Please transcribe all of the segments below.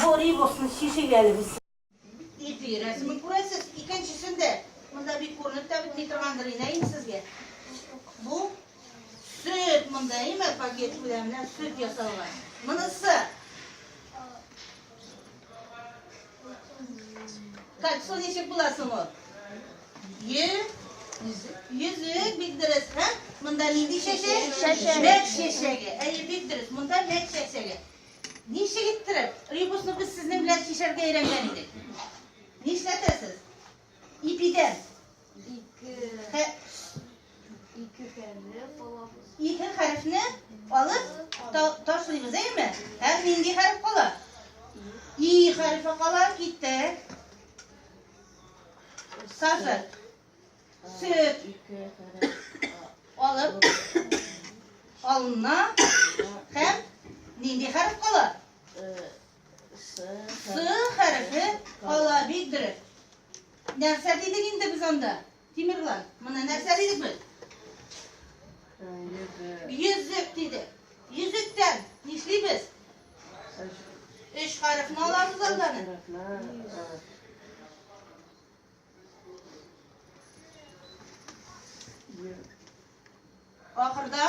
Гори булсын чишенганыбыз. Ипи рәсемен күрәсез, икенчесен дә, монда бик күренеп тә бетми торгандыр инде инде сезгә. Бу сөт монда, әйме, пакет белән менә сөт ясалган. Монысы Кальцо ничек була соң ул? Йөзек бик дөрес, һә? Монда нинди чәчәк? Чәчәк. Мәк чәчәге. Әйе, бик дөрес. Монда мәк чәчәге. Ничек иттереп? Ребусны без сезнең белән чишәргә өйрәнгән идек. Нишләтәсез? Ипидән. Ике. Хә... Ике хәрефне алабыз. Ике хәрефне алып та, ташлыйбыз, әйме? Һәм нинди хәреф кала? И хәрефе кала, китте. Сазы. Сөт. Алып. Алына. Хәм. Нинди хәреф кала? Сы хәрефе кала бик дөрес. Нәрсә дидек инде без анда? Тимерлан, моны нәрсә дидек без? Йөзек дидек. Йөзектән нишлибез? Өч хәрефне алабыз алданы. Ахырда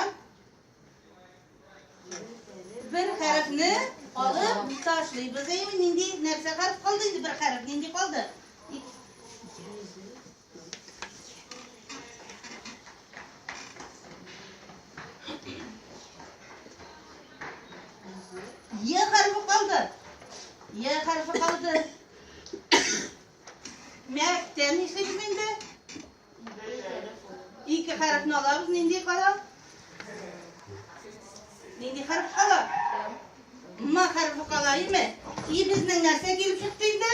бер хәрефне алып ташлыйбыз. Әйме, нинди нәрсә хәреф калды инде бер хәреф, нинди калды? Е хәрефе калды. Е хәрефе калды. Мәктә нишлибез инде? Ике хәрефне алабыз, нинди кала? Нинди хәреф кала? Ма хәрефе кала, име? И безнең нәрсә килеп чыкты инде?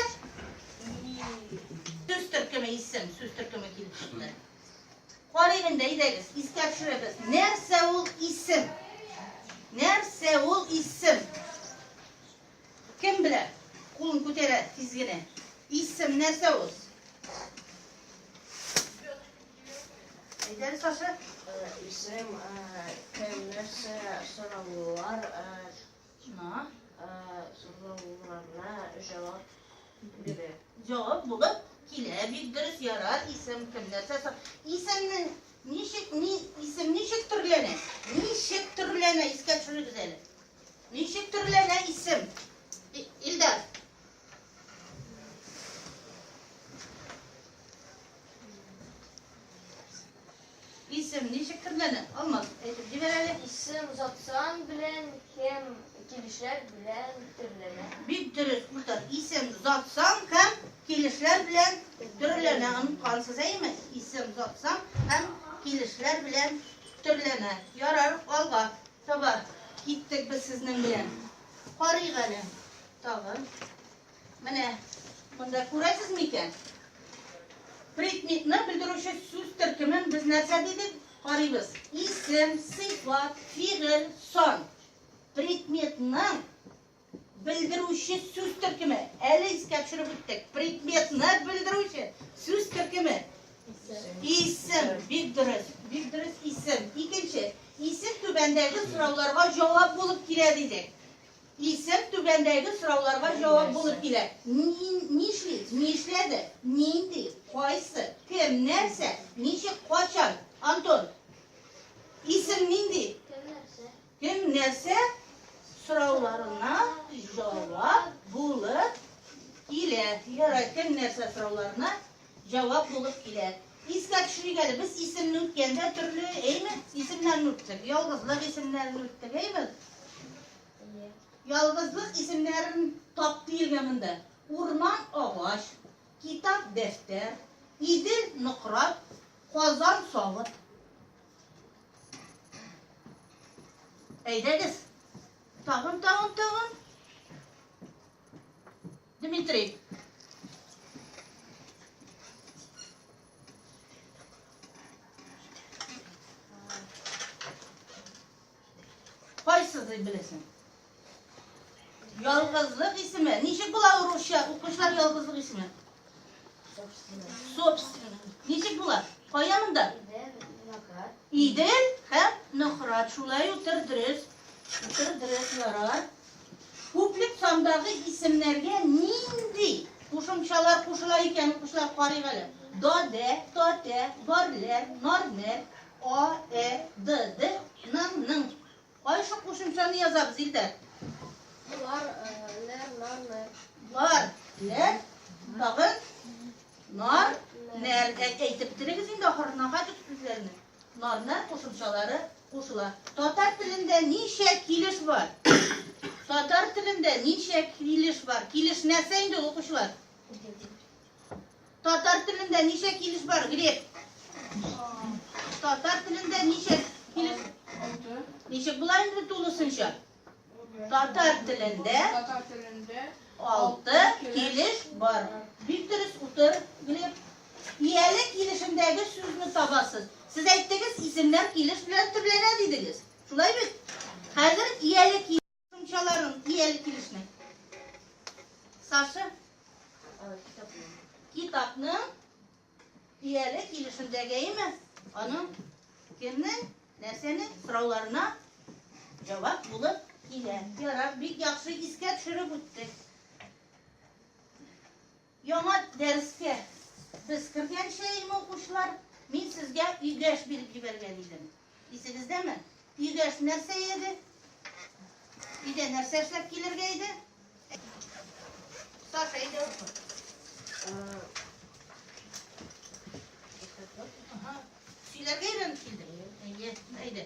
Сүз төркеме исем, сүз төркеме килеп чыкты. Карыйк инде, әйдәгез, искә төшерәбез. Нәрсә ул исем? Нәрсә ул исем? Кем белә? Кулын күтәрә тиз генә. Исем нәрсә ул? Әйдәр, Саша. Исем кем нәрсә сораулар на сорауларына җавап бирә. Җавап булып килә. Бик дөрес ярар. Исем кем нәрсә сор. Исемнең ничек ни исем ничек төрләнә? Ничек төрләнә? Искә төшерегез әле. Ничек төрләнә исем? Илдар. Исем ничек төрләнә? Алмаз, әйтеп җибәр әле. Исем затсан белән һәм килешләр белән төрләнә. Бик дөрес, Мөхтар. Исем затсан һәм килешләр белән төрләнә. Оныткансыз, әйеме? Исем затсан һәм килешләр белән төрләнә. Ярар, алга. Таба киттек без сезнең белән. Карыйк әле тагы. Менә монда күрәсез микән? Предметны белдерүче сүз төркемен без нәрсә дидек? Карыйбыз. Исем, сыйфат, фигыль, сан. Предметның Белдерүче сүз төркеме. Әле искә төшереп үттек. Предметны белдерүче сүз төркеме. Исем. Бик дөрес. Бик дөрес исем. Икенче. Исем түбәндәге сорауларга җавап булып килә дидек. Исем түбәндәге сорауларга җавап булып килә. Нишли? Нишләде? Нинди? Кайсы? Кем? Нәрсә? Ничек? Качан? Антон. Исем нинди? Кем нәрсә сорауларына җавап булып килә? Ярай, кем нәрсә сорауларына җавап булып килә? Искә төшерик әле, без исемне үткәндә төрле, әйме? Исемнәрне үттек, ялгызлык исемнәрен үттек, әйме? Ялгызлык исемнәрен тап диелгән монда. Урман агач, китап дәфтәр, Идел нократ, Казан савыт. Әйдәгез. Тагын, тагын, тагын. Дмитрий. Кайсы дип беләсең? Ялгызлык исеме. Ничек була русча? Укучылар ялгызлык исеме. Собственно. Ничек була? Кая монда? Идел һәм Нохрат. Шулай утыр дөрес. Утыр дөрес ярар. Күплек сандагы исемнәргә нинди кушымчалар кушыла икән укучылар карыйк әле. Доде, тоте, горле, норне, А, Э, Д, Д, Ның, Ның. Кайсы кушымчаны язабыз, Илдар? Лар, э, ләр, нар, нәр. Лар, ләр, тагын нар, нәр. Ә- Әйтеп торыгыз инде ахырына кайтып сүзләрне. Нар, нәр кушымчалары кушыла. Татар телендә ничә килеш бар? Татар телендә ничә килеш бар? Килеш нәрсә инде укучылар? Татар телендә ничә килеш бар, Глеб? Татар телендә ничә килеш? Алты. Ничек була инде тулысынча? Татар телендә Татар телендә алты килеш бар. Бик дөрес утыр, Глеб. Ияле килешендәге сүзне табасыз. Сез әйттегез, исемнәр килеш белән төрләнә дидегез. Шулай бит? Хәзер ияле килеш Тумчаларын ияле килешне. Саша китапны ияле килешендәге име? Аның кемнең нәрсәнең сорауларына җавап булып килә. Ярар, бик яхшы искә төшереп үттек. Яңа дәрескә без кергәнче, иң укучылар, мин сезгә игәш биреп җибәргән идем. Исегездәме? Игәш нәрсә иде? Өйдә нәрсә эшләп килергә иде? Саша иде. Сөйләргә өйрәнеп килдең? Әйе, әйдә.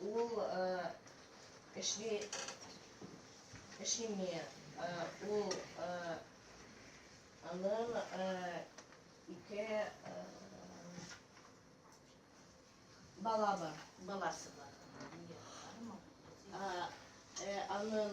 Ул эшли, эшлими, ул анын ике бала бар, баласы бар. Анын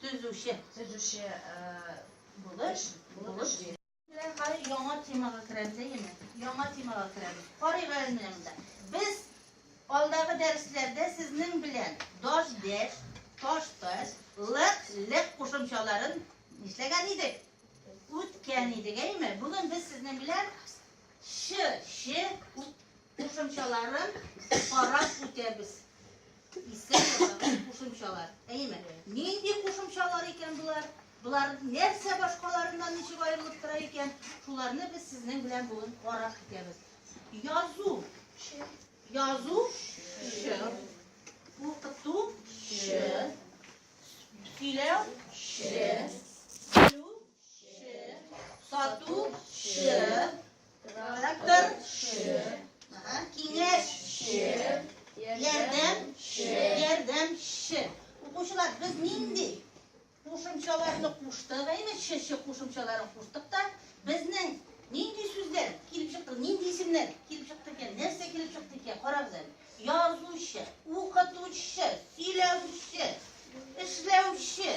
Төзүче. Төзүче булыш. Булыш. Хәзер яңа темага керәбез, әйеме? Яңа темага керәбез. Карыйк әле монда. Без алдагы дәресләрдә сезнең белән даш дәш, таш таш, лык лык кушымчаларын нишләгән идек? Үткән идек, әйеме? Бүген без сезнең белән ш ше Кушымчаларын карап үтәбез. Искә ясаган кушымчалар. Әйеме? Нинди кушымчалар икән болар? Болар нәрсә башкаларыннан ничек аерылып тора икән? Шуларны без сезнең белән бүген карап үтәбез. Язу. Язу. Ш. Укыту. Ш. Сөйләү. Ш. Сату. Ш. Трактор ше. Ага. Киңәш ше. Ярдәм ше. Ярдәм ше. Укучылар, без нинди кушымчаларны куштык, әйме шеше кушымчаларын куштык та, безнең нинди сүзләр килеп чыкты, нинди исемнәр килеп чыкты икән, нәрсә килеп чыкты икән, карагыз әле. Язучы, укытучы, сөйләүче, эшләүче.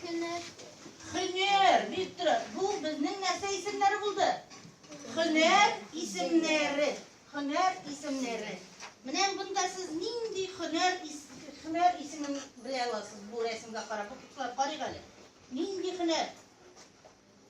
Хөнәр. Хөнәр, Виктор, бу безнең нәрсә исемнәре булды? Хөнәр исемнәре. Хөнәр исемнәре. Менә бунда сез нинди хөнәр хөнәр исемен белә аласыз бу рәсемгә карап. Укытучылар карыйк әле. Нинди хөнәр?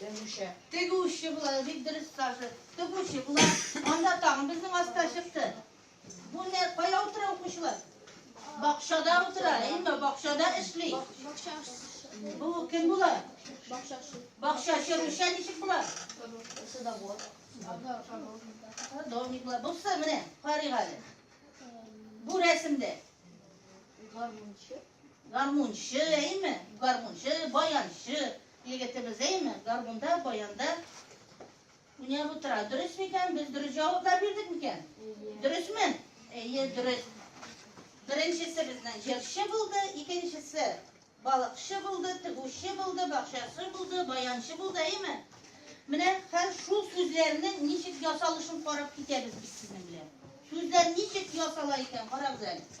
Тегүче. Тегүче була, бик дөрес Саша. Тегүче була. Анда тагын безнең аска чыкты. Бу не кая утыра укучылар? Бакчада утыра, әйме? Бакчада эшли. Бу кем була? Бакчачы. Бакчачы Рүшә ничек була? Садовод. Садовник була. Бусы менә, карыйгали. Бу рәсемдә. Гармунчы. Гармунчы, әйме? Гармунчы, баянчы егетебез, әйме? Гармунда, баянда уйнап утыра. Дөрес микән? Без дөрес җаваплар бирдек микән? Дөресме? Әйе, дөрес. Беренчесе безнең җырчы булды, икенчесе балыкчы булды, тегүче булды, бакчасы булды, баянчы булды, әйме? Менә хәзер шул сүзләрнең ничек ясалышын карап китәбез без сезнең белән. Сүзләр ничек ясала икән, карагыз әле.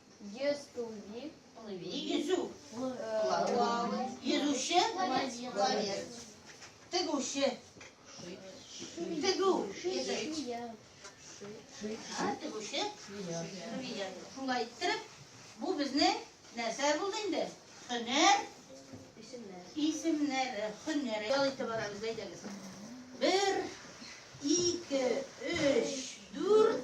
Естуви. Плыви. Йөзү. Плавый. Йөзүче. Пловец. Тегүче. Тегү. Тегүче. Шулай иттереп, бу безнең нәрсә булды инде? Һөнәр. Исемнәр. Исемнәре, һөнәре. Ял итеп барабыз, әйдәгез. Бер, ике, өч, дүрт,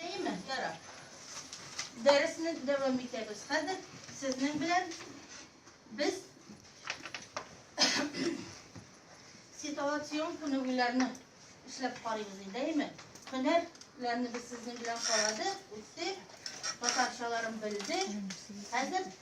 Әйеме, ярар. Дәресне дәвам итәбез. Хәзер сезнең белән без ситуацион күнегүләрне эшләп карыйбыз инде, әйеме? Һөнәрләрне без сезнең белән карадык, үттек, татарчаларын белдек. Хәзер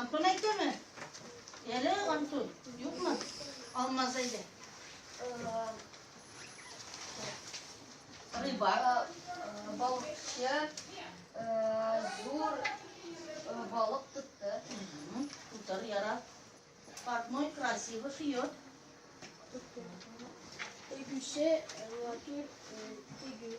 Антон әйтәме? Әле Антон, юкмы? Алмаз әйдә. Рыба, балыкчы, зур балык тотты. Утыр, яра. Портной красивый шьет. Тегүче, матур тегү.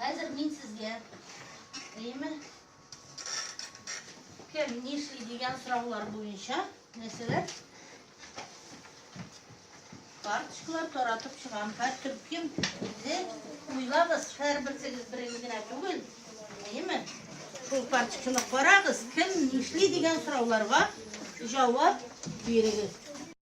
Хәзер мин сезгә, әйеме, кем нишли дигән сораулар буенча нәрсәләр карточкалар таратып чыгам. Хәзер төркем үзе уйлагыз, һәрберсегез берегез генә түгел, әйеме? Шул карточканы карагыз, кем нишли дигән сорауларга җавап бирегез.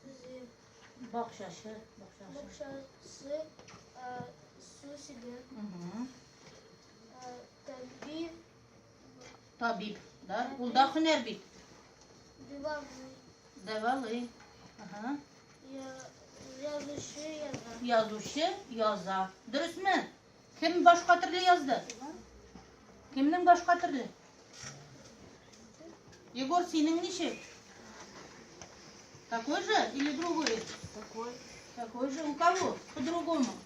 Сүзе, бакчасы, бакчасы. Бакчасы, су сиде. Табиб. Табиб, да? Ул да һөнәр бит. Дивалый. Дивалый. Ага. Язучы яза. Язучы яза. Дөресме? Кем башка төрле язды? Кемнең башка төрле? Егор, синең ничек? Такой же или другой? Такой. Такой же. У кого? По-другому.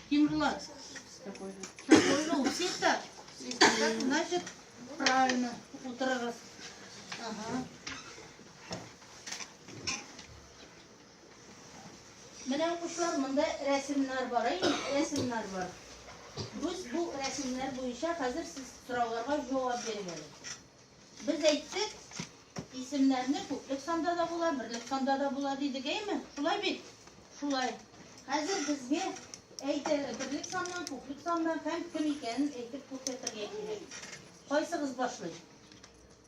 Ким Влад? Такой же. Такой же. У всех так? Если так, значит, правильно. Утро раз. Ага. Менә укучылар, монда рәсемнәр бар, әй, рәсемнәр бар. Без бу рәсемнәр буенча хәзер сез сорауларга җавап бирегез әле. Без әйттек, исемнәрне күплек санда да була, берлек санда да була дидек, әйме? Шулай бит? Шулай. Хәзер безгә әйтә берлек саннан, күплек саннан һәм кем икәнен әйтеп күрсәтергә кирәк. Кайсыгыз башлый?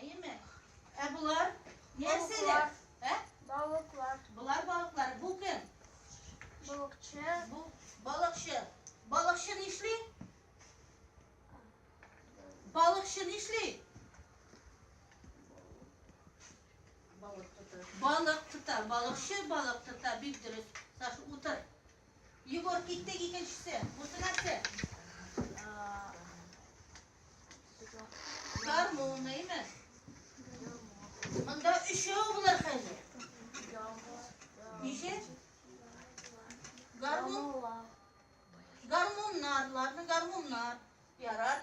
Әйеме? Ә болар нәрсәләр? Ә? Балыклар. Болар балыклар. Бу кем? Балыкчы. Бу балыкчы. Балыкчы нишли? Балыкчы нишли? Балык тота. Балык тота. Балыкчы балык тота. Бик дөрес. Саша, утыр. Егор, киттек икенчесе. Бусы нәрсә? Гармун, нәйме? Монда өчәү булыр хәзер. Ничә? Гармун. Гармуннар, ладно, гармуннар. Ярар.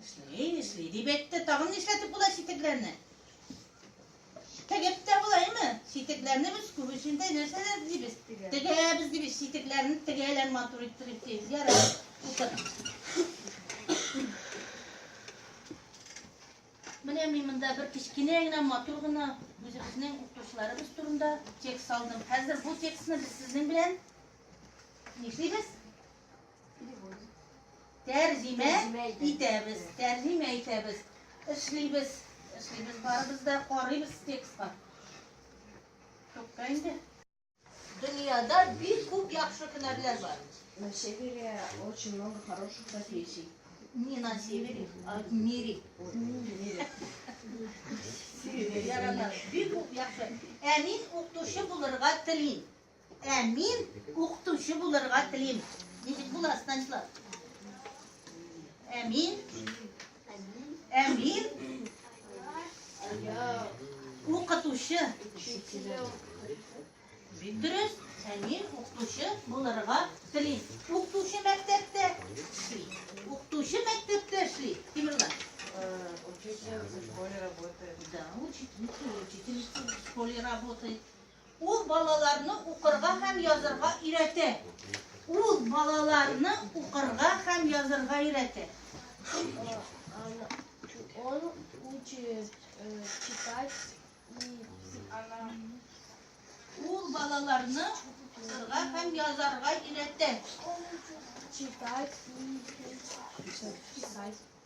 Эшли, эшли, дип әйтте. Тагын нишләтеп була ситекләрне? Тегеп тә булаймы? Ситекләрне без күбесендә нәрсәләр дибез? Тегәбез дибез, ситекләрне тегәләр матур иттереп дибез. Ярар, укыт. Менә мин монда бер кечкенә генә матур гына үзебезнең укытучыларыбыз турында текст алдым. Хәзер бу текстны без сезнең белән нишлибез? Тәрҗимә итәбез. Тәрҗимә итәбез. Эшлибез. Эшлибез барыбыз да карыйбыз текстка. Тукта инде. Дөньяда бик күп яхшы һөнәрләр бар. На севере очень много хороших профессий. Не на севере, а в мире. Бик күп яхшы. Ә мин укытучы булырга телим. Ә мин укытучы булырга телим. Ничек була, Станислав? Ә мин? Ә мин? Укытучы. Дөрес, ә мин укытучы булырга телим. Укытучы мәктәптә эшли. Укытучы мәктәптә эшли. Тимерлан. Учитель в школе работает. Да, учитель, учитель в школе работает. Ул балаларны укырга һәм язырга өйрәтә. Ул балаларны укырга һәм язырга өйрәтә. Он учит э, читать Ул балаларны укырга һәм язарга өйрәтә. читать и писать.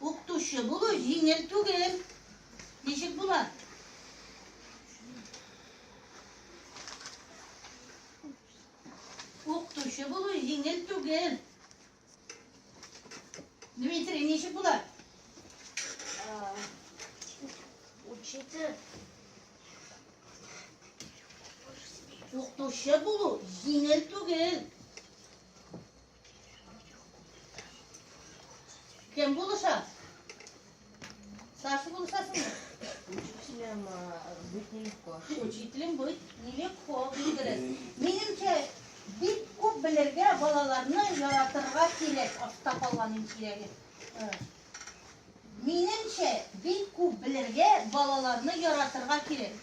Укытучы булу җиңел түгел. Ничек була? Укытучы булу җиңел түгел. Дмитрий, ничек була? Учитель. Укытучы булу җиңел түгел. Кем булыша? Старший булышасың мы? Учителем быть нелегко. Учителем быть нелегко, билгелес. Минемчә, бик күп белергә, балаларны яратырга кирәк, артта калган иң кирәге. Минемчә, бик күп белергә, балаларны яратырга кирәк.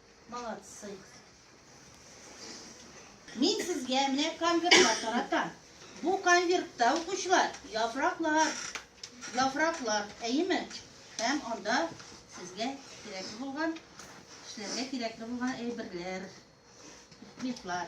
Молодцы. Мин сезгә менә конвертлар таратам. Бу конвертта укучылар яфраклар, яфраклар, әйеме? Һәм анда сезгә кирәкле булган, эшләргә кирәкле булган әйберләр, предметлар.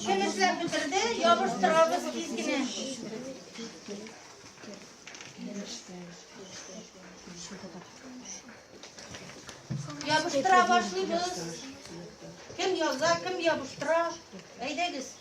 Кемешләр бетерде, ябыштырабыз тиз генә. Ябыштыра башлыйбыз. Кем яза, кем ябыштыра. Әйдәгез.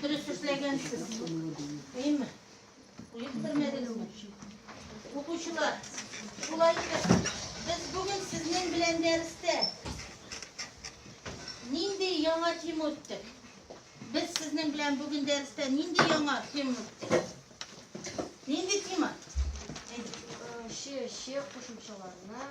Дөрес эшләгәнсез. Әйме? Уйыктырмәдегезме? Укучылар, шулай итеп, без бүген сезнең белән дәрестә нинди яңа тема үттек? Без сезнең белән бүген дәрестә нинди яңа тема үттек? Нинди тема? Ши, ши кушымчаларына